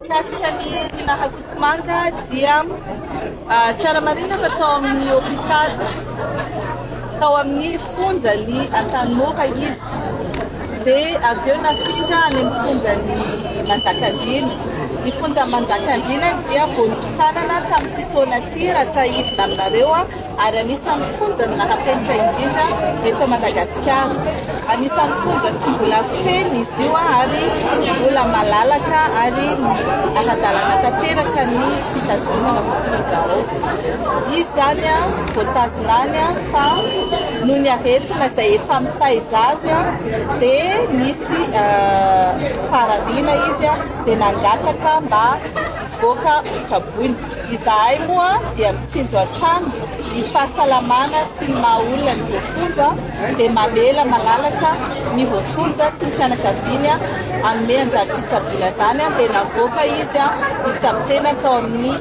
Mikasika ny Tina Rakotomanga dia tsara marihina fa tao amin'ny hopitaly tao amin'ny fonjan'i Antanimora izy dia avy eo nafindra any amin'ny fonjan'i Manjakandriana. Ny fonjan'i Manjakandriana dia vao notokanana tamin'ity taona ity raha tsiahivina aminareo aho. ary anisan'ny fonja naha-fenitra indrindra eto Madagasikara. Anisan'ny fonja tsy mbola feno izy io ary mbola malalaka ary ara-dalàna tanteraka ny fitazonana voafonja ao. Izy izany voatazona any fa noho ny aretina izay efa mitaiza azy dia nisy faharabiana izy dia nangataka mba hivoaka hotsaboina. Izahay moa dia mitsinjo hatrany ny fahasalamana sy ny maha olona ny voafonja dia mamela malalaka ny voafonja sy ny fianakaviany hanome an'izany fitsaboana izany dia navoaka izy hitsabo tena tao amin'ny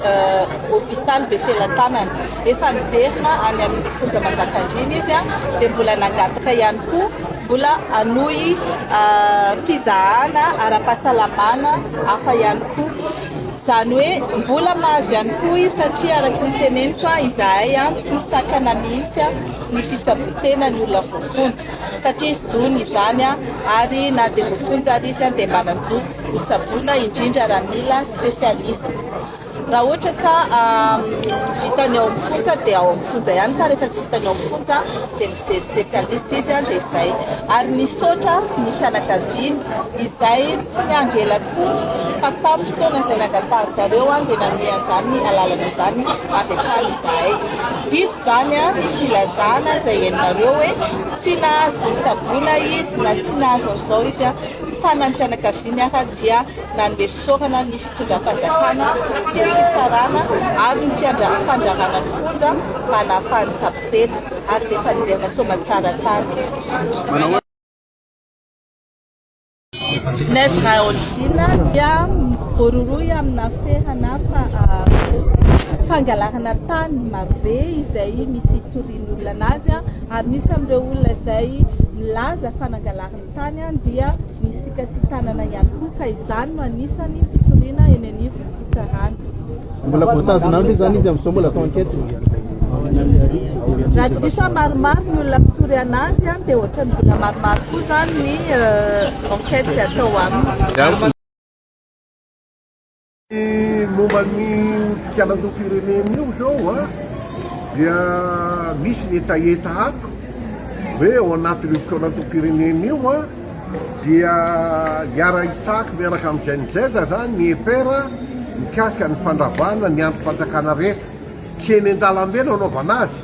hopitaly Befelatanana. Efa niverina any amin'ny fonja Manjakandriana izy dia mbola nangataka ihany koa mbola hanohy fizahana ara-pahasalamana hafa ihany koa. Izany hoe mbola mahazo ihany koa izy satria araka ny teneniko izahay tsy misakana mihitsy ny fitsaboan-tenan'ny olona voafonja satria izy dony izany ary na dia voafonja ary izy dia manan-jo ho tsaboina indrindra raha mila spécialiste. Raha ohatra ka vitany ao amin'ny fonja dia ao amin'ny fonja ihany fa rehefa tsy vitany ao amin'ny fonja dia Mijery spécialiste izy an dia zay. Ary misaotra ny fianakaviany izay tsy niandry ela akory fa tamin'ny fotoana izay nangatahan-dry zareo an dia nanome an'izany alalana izany avy hatrany izahay. Diso izany an ny filazana izay henonareo hoe tsy nahazo nitsaboana izy na tsy nahazo an'izao izy an. Ny tanan'ny fianakaviany ary dia nanome fisaorana ny. fitondram-panjakana sy ny fitsarana ary ny fandrarana ny fonja mba nahafahan'ny kapiteny ary ny fandriana soamantsara tany. Nef Raholdina dia voarohirohy amina fihana fa fangalarana tany marobe izay misy hitorian'ny olona anazy ary misy amin'ireo olona izay milaza fa nangalariny tany dia Nisy fikasitanana ihany koa ka izany no anisany fitoriana eny anivon'ny fitsarana. Mbola voatazona any ve izany izy amin'izao mbola atao enquête? Raha tsy diso aho maromaro ny olona mpitory an'azy an, dia ohatran'ny mbola maromaro koa izany ny enquête atao aminy. Momba ny fikianan-dom-pirenena io izao a, dia misy ny hetaheta ato hoe ao anatin'io fikianan-dom-pirenena io a, dia hiara-hitaky miaraka amin'ny GNZ izany ny EPR mikasika ny fandravana ny andrim-panjakana rehetra. Tsy eny an-dalambe no anaovana azy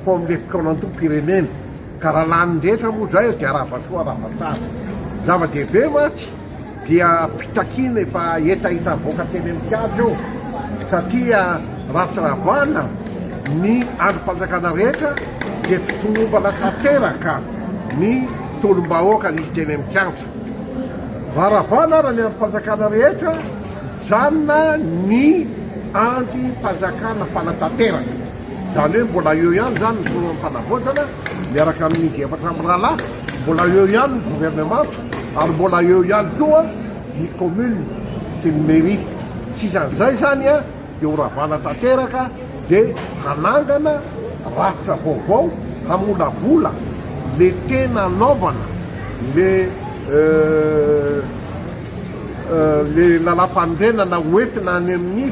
fa ao amin'ilay fikianan-dom-pirenena. Ka raha lanin'ny rehetra moa izay dia rava soa rava tsara. Zava-dehibe mantsy. dia mpitakiana efa hetaheta avoaka teny amin'ny kianja io satria raha tsy ravana ny andrim-panjakana rehetra dia tsy tomombana tanteraka ny tolom-bahoaka nisy teny amin'ny kianja. Raha ravana ara ny andrim-panjakana rehetra, mijanona ny andrim-panjakana fanatanteraka. Izany hoe mbola eo ihany izany ny filoham-panavaozana miaraka amin'izy efatra mirahalahy, mbola eo ihany ny governemanta ary mbola eo ihany koa ny commune sy ny mairie. Tsy isan'izay izany dia ho ravana tanteraka dia hanangana rafitra vaovao hamolavola le tena anaovana le le lalam-panorenana hoentina any amin'ny